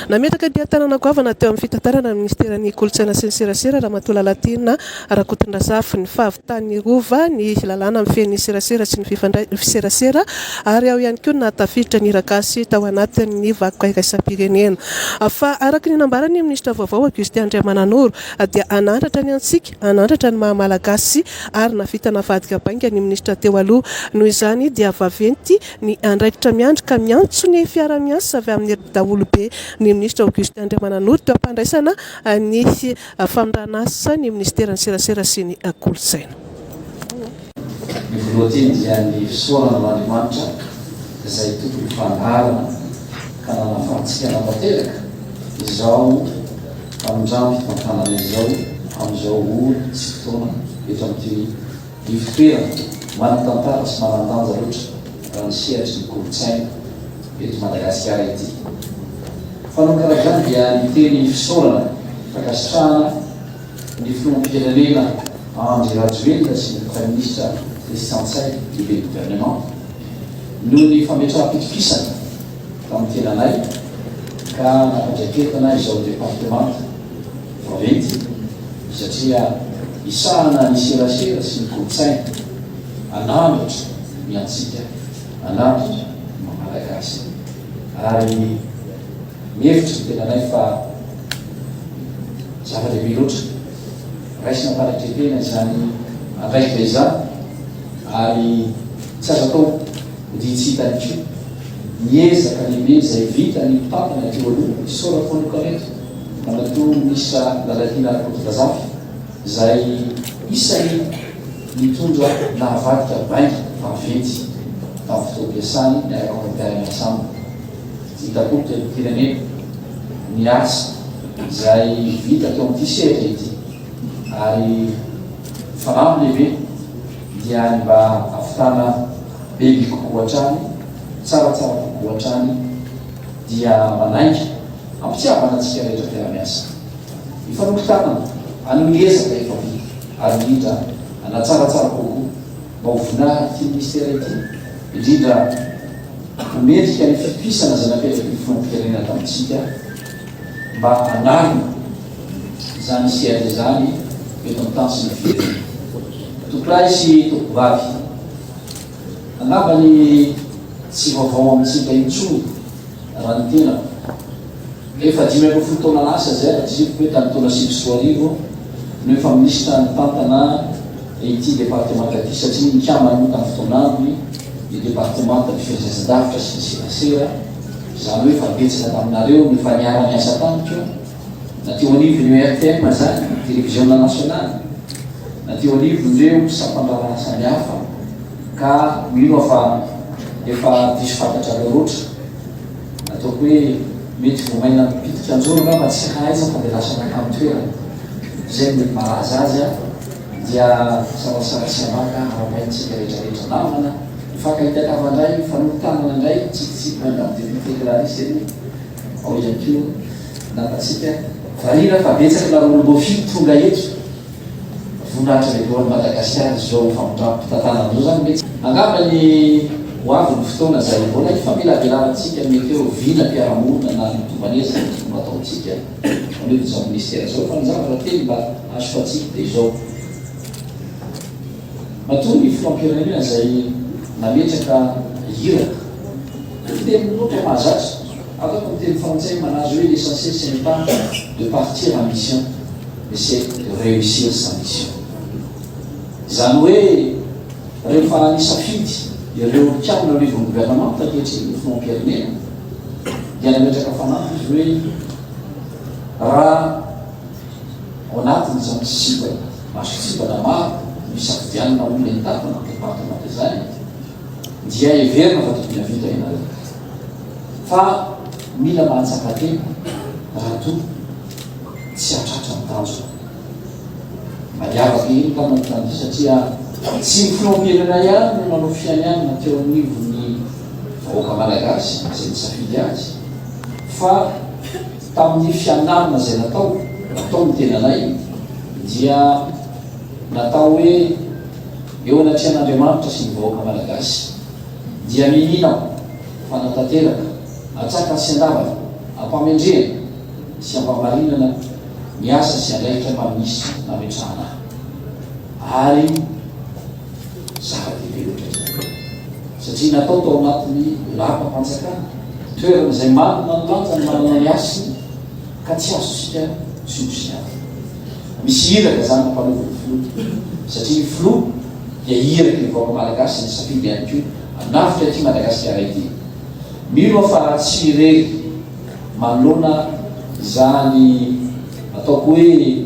Nametraka dihy an-tanana goavana teo amin'ny fitantarana ny minisiteran'ny Kolontsaina sy ny serasera, Ramatoa Lalatiana Rakotondrazafy, ny fahavitan'ny Rova, ny lalàna mifehy ny serasera sy ny fifandray ny serasera ary ao ihany koa ny nahatafiditra ny hiragasy tao anatin'ny vakoka iraisam-pirenena. Fa araka ny nambaran'ny minisitra vaovao Augustin Andriamananoro dia hanandratra ny antsika, hanandratra ny maha-malagasy ary nahavita navadika bainga ny minisitra teo aloha. Noho izany dia vaventy Ny andraikitra miandry ka miantso ny fiara-miasa avy amin'ny daholobe ny minisitra Augustin Andriamananoro teo am-pandraisana ny famiran'asa ny minisiteran'ny serasera sy ny kolontsaina. Ny voalohanteny dia ny fisaorana an'Andriamanitra izay tompon'ny fandaharana ka nanafahantsika natanteraka izao famindram-pitantanana izao amin'izao ora sy fotoana eto amin'ity Ivotoerana manan-tantara sy manan-danja loatra raha ny sehatry ny kolontsaina eto Madagasikara ity. Fanao karaha izany dia miteny fisaorana fankasitrahana ny Filoham-pirenena Andry Rajoelina sy ny Praiminisitra Christian Ntsay, Lehiben'ny Governemanta, noho ny fametraham-pitokisana tamin'ny tenanay ka nampandraiketina izao departemanta. Vaventy, satria hisahana ny serasera sy ny kolontsaina. An'androtra ny antsika, an'androtra ny maha Malagasy. Ary mihevitra ny tenanay fa zava-dehibe loatra raisina am-panetren-tena izany andraikitra izany, ary tsy azo atao hodintsita ihany koa ny ezaka lehibe izay vitan'ny mpitantana teo aloha, isaorako manokana eto. Ramatoa Minisitra Lalatiana Rakotondrazafy, izay isan'ny nitondra nahavadika bainga vaventy tamin'ny fotoam-piasany niaraka amin'ny mpiara-miasa aminy. Hita-po teto am-pirenena ny asa izay vita teo amin'ity sehatra ity ary filamb lehibe dia ny mba hahavitana bebe kokoa hatrany, tsaratsara kokoa hatrany dia manainga. Am-pitiavana antsika rehetra mpiara-miasa. Mifanoko tanana, hanao ny ezaka efa vita, ary indrindra hanatsaratsara kokoa, mba ho voninahiny ity Ministera ity, indrindra ho mendrika ny fitohisana izay napetraky ny Filoham-pirenena tamintsika mba hanarina izany sehatra izany eto amin'ny tany sy ny firenena. Tompolahy sy Tompovavy. Angamba ny tsy vaovao amintsika intsony raha ny tenako. Efa dimy ambin'ny folo taona lasa izay raha tsy diso ve tamin'ny taona sivy sy roa arivo no efa minisitra nitantana ity departemanta ity satria nikambana moa tamin'ny fotoana aminy ny departemantan'ny fehezan-javitra sy ny serasera, izany hoe efa betsaka taminareo no efa niara-niasa tamiko. Na teo anivon'ny RTM izany, Televiziona Nasionaly, na teo anivon'ireo sampan-draharaha samihafa, ka mino aho fa efa diso fantatrareo loatra. Ataoko hoe mety voamaina mipitika an-joro angamba tsy hahaiza fa dia lasa nankany toerana. Izay no mety malaza azy an! Dia sarasara sy ambaka ara-bainy isika rehetrarehetra. Namana, mifankahita kavandray, mifanoho tanana indray, mitsikitsiky mandalo Député Clarisse ery. Ao ihany koa ny nambatsika variana fa betsaka ny lavolom-boafidy tonga eto. Voninahitra lehibe ho an'i Madagasikara izao famindram-pitantana izao izany mety. Angamba ny ho avy ny fotoana izay mbola hifamelabelanantsika mety hoe ho vina mpiara-monina na mitomban'ezaka ny fomba ataontsika manolotra izao minisitera izao fa ny zavatra telo mba hasoantsika dia izao. Matoa ny filoham-pirenena izay nametraka iraka ny fiteny roa toa mahazatra, afaka miteny frantsay manazy hoe l'essentiel ce n'est pas de partir en mission mais c'est de reussir sa mission. Izany hoe rehefa nisafidy ireo mpikambana ao anivon'ny governemanta ankehitriny ny filoham-pirenena dia nametraka fanampy izy hoe raha ao anatin'izany sipa Mason-tsivana maro no isafidianana olona hitantana ny departemanta izany dia heverina fa tokony hahavita ianareo. Fa mila mahatsapa tena raha toa tsy hahatratra ny tanjona. Mba niavaka ihany ka manao izany satria tsy ny filoham-pirenena ihany no nanao fianianana teo anivon'ny vahoaka malagasy izay nisafidy azy fa Tamin'ny fianarana izay natao, natao ny tenanay dia natao hoe eo anatrehan'Andriamanitra sy ny vahoaka Malagasy dia minin aho fanatanteraka atsakany sy andavany ampamendrehana sy ampamarinana ny asa sy andraikitra manisy nametrahana ahy ary Zava-dehibe ohatra izany, satria natao tao anatin'ny Lapa-panjakana, toerana izay manana ny lanjany, manana ny hasiny, ka tsy azontsika tsiosiavina. Misy iraka izany nampanaovin'ny Filoha, satria ny Filoha dia iraky ny vahoaka malagasy, izay nisafidy ihany koa hanafika ity Madagasikara ity. Mino aho fa raha tsy irery manoloana izany ataoko hoe.